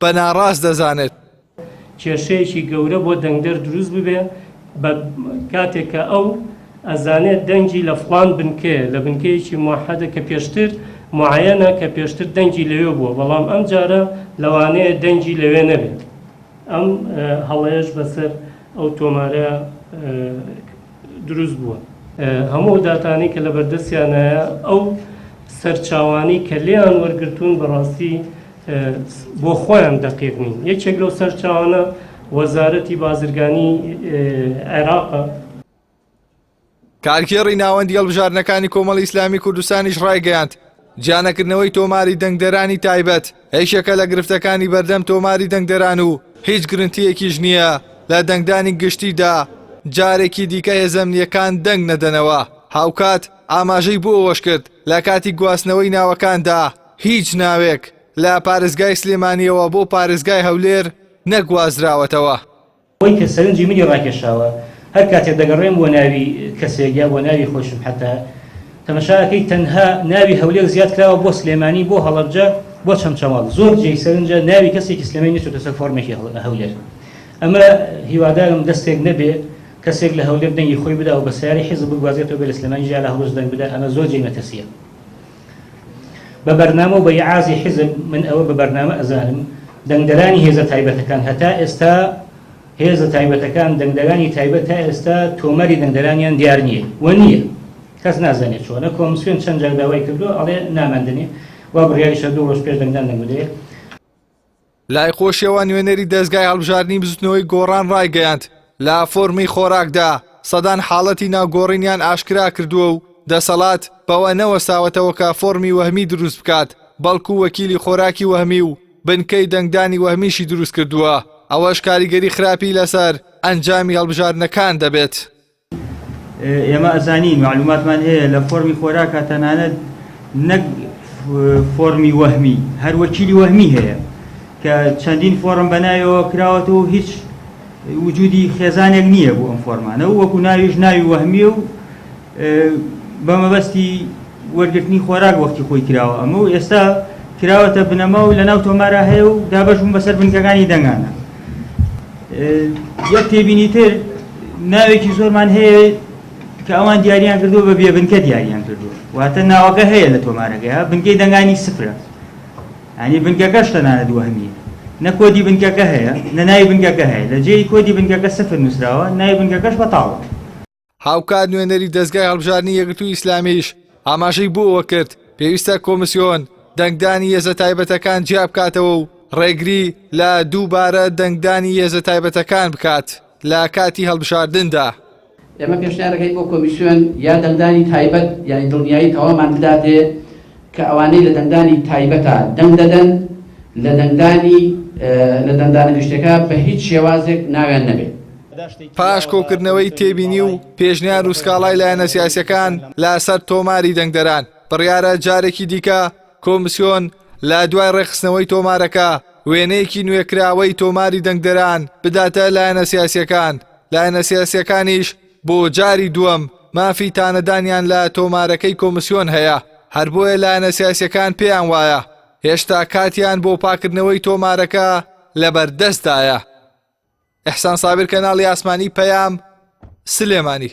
بە ناڕاست دەزانێت. کێشەیەکی گەورە بۆ دەنگدەر دروست ببێ بە کاتێک کە ئەو ئەزانێت دەنگی لە فڵان بنکەیە لە بنکەیەکی موحەدە کە پێشتر موعەیەنە کە پێشتر دەنگی لەوێ بووە بەڵام ئەم جارە لەوانەیە دەنگی لەوێ نەبێت ئەم هەڵەیەش بەسەر ئەو تۆمارە دروست بووە. هەموو ئەو داتانەی کە لەبەردەستیانایە ئەو سەرچاوانەی کە لێیان وەرگرتوون بەڕاستی بۆ خۆیان دەقیق نین یەکێک لەو سەرچاوانە وەزارەتی بازرگانی عێراقە. کارگێڕی ناوەندی هەڵبژاردنەکانی کۆمەڵی ئیسلامی کوردستانیش ڕایگەیاند، جیانەکردنەوەی تۆماری دەنگدەرانی تایبەت هێشێکە لە گرفتەکانی بەردەم تۆماری دەنگدەران و هیچ گرنتییەکیش نییە لە دەنگدانی گشتیدا جارێکی دیکە هێزە ئەمنییەکان دەنگ نەدەنەوە. هاوکات ئاماژەی بۆ ئەوەش کرد، لە کاتی گواستنەوەی ناوەکاندا هیچ ناوێک لە پارێزگای سلێمانییەوە بۆ پارێزگای هەولێر نەگوازراوەتەوە. ئەوەی کە سەرنجی منی ڕاکێشاوە هەر کاتێ دەگەڕێم بۆ ناوی کەسێک یا بۆ ناوی خۆشم حەتا تەمەشا ئەکەی تەنها ناوی هەولێر زیاد کراوە بۆ سلێمانی بۆ هەڵەبجە بۆ چەمچەماڵ زۆر جێی سەرنجە ناوی کەسێکی سلێمانی نەچۆتە سەر فۆرمێکی هەولێر ئەمە هیوادارم دەستێک نەبێ کەسێک لە هەولێر دەنگی خۆی بدا و بە سیارەی حیزب بگوازێتەوە بێ لە سلێمانی جیا لە هەڵۆش دەنگ بدا ئەمە زۆر جێی مەترسیە بە بەرنامە و بە ئیعازی حیزب من ئەوە بە بەرنامە ئەزانم دەنگدەرانی هێزە تایبەتەکان هەتا ئێستا هێزە تایبەتەکان دەنگدەرانی تایبەت تا ئێستا تۆمەری دەنگدەرانیان دیار نییە و نییە کەس نازانێت چۆنە کۆمسیۆن چەند جار داوای کردو ئەڵێ ناماندنێ وا بڕیاریشە دوو ڕۆژ پێش دەنگدان دەنگدەێ لای خۆشیەوە نوێنەری دەزگای هەڵبژاردنی بزوتنەوەی گۆڕان ڕایگەیاند، لە فۆرمی خۆراکدا سەدان حاڵەتی ناوگۆڕینیان ئاشکرا کردووە و دەسەڵات بەوە نەوەستاوەتەوە کە فۆرمی وەهمی دروست بکات، بەڵکو وەکیلی خۆراکی وەهمی و بنکەی دەنگدانی وەهمیشی دروست کردووە، ئەوەش کاریگەری خراپی لەسەر ئەنجامی هەڵبژاردنەکان دەبێت. ئێمە ئەزانین معلوماتمان هەیە لە فۆرمی خۆراکە تەنانەت نەک فۆرمی وەهمی هەر وەکیلی وەهمی هەیە کە چەندین فۆرم بەنایەوە کراوەەوە و هیچ وجودی خێزانێک نییە بۆ ئەم فۆرمانە و وەکو ناویش ناوی وەهمیە و بە مەبەستی وەرگرتنی خۆراک وەختی خۆی کراوە ئەمە و ئێستا کراوەتە بنەما و لەناو تۆمارا هەیە و دابەش بوون بەسەر بنکەکانی دەنگانە یەک تێبینی تر ناوێکی زۆرمان هەیە کە ئەوان دیاریان کردو بە بێبنکە دیاریان کردو واتە ناوەکە هەیە لە تۆمارەکەی بنکەی دەنگانی سفرە ئەنی بنکەکەش تەنانە دووەهمی نە کۆدی بنکەکە هەیە نە ناوی بنکەکە هەیە لە جێی کۆدی بنکەکە سفر نووسراوە ناوی بنکەکەش بەتاڵە هاوکات نوێنەری دەزگای هەڵبژاردنی یەکگرتووی ئیسلامیش ئاماژەی بۆوە کرد پێویستە کۆمسیۆن دەنگدانی هێزە تایبەتەکان جیا بکاتەوە و ڕێگری لە دووبارە دەنگدانی هێزە تایبەتەکان بکات لە کاتی هەڵبژاردندا. ئێمە پێشنیارەکەین بۆ کۆمیسیۆن یا دەنگدانی تایبەت یانی دڵنیایی تەواومان بداتێ، کە ئەوانەی لە دەنگدانی تایبەتا دەنگ دەدەن لە دەنگدانی لە دەنگدانە گشتیەکە بە هیچ شێوازێک ناویان نەبێت. پاش کۆکردنەوەی تێبینی و پێشنیار و سکاڵای لایەنە سیاسیەکان لە سەر تۆماری دەنگدەران، بڕیارە جارێکی دیکە کۆمسیۆن لە دوای ڕێکخستنەوەی تۆمارەکە وێنەیەکی نوێکراوەی تۆماری دەنگدەران بداتە لایەنە سیاسیەکان، لایەنە سیاسیەکانیش بۆ جاری دووەم مافی تانەدانیان لە تۆمارەکەی کۆمسیۆن هەیە، هەر بۆیە لایەنە سیاسییەکان پێیان وایە هێشتا کاتیان بۆ پاککردنەوەی تۆمارەکە لەبەردەستدایە. ئیحسان سابر کەناڵی ئاسمانی پەیام، سلێمانی.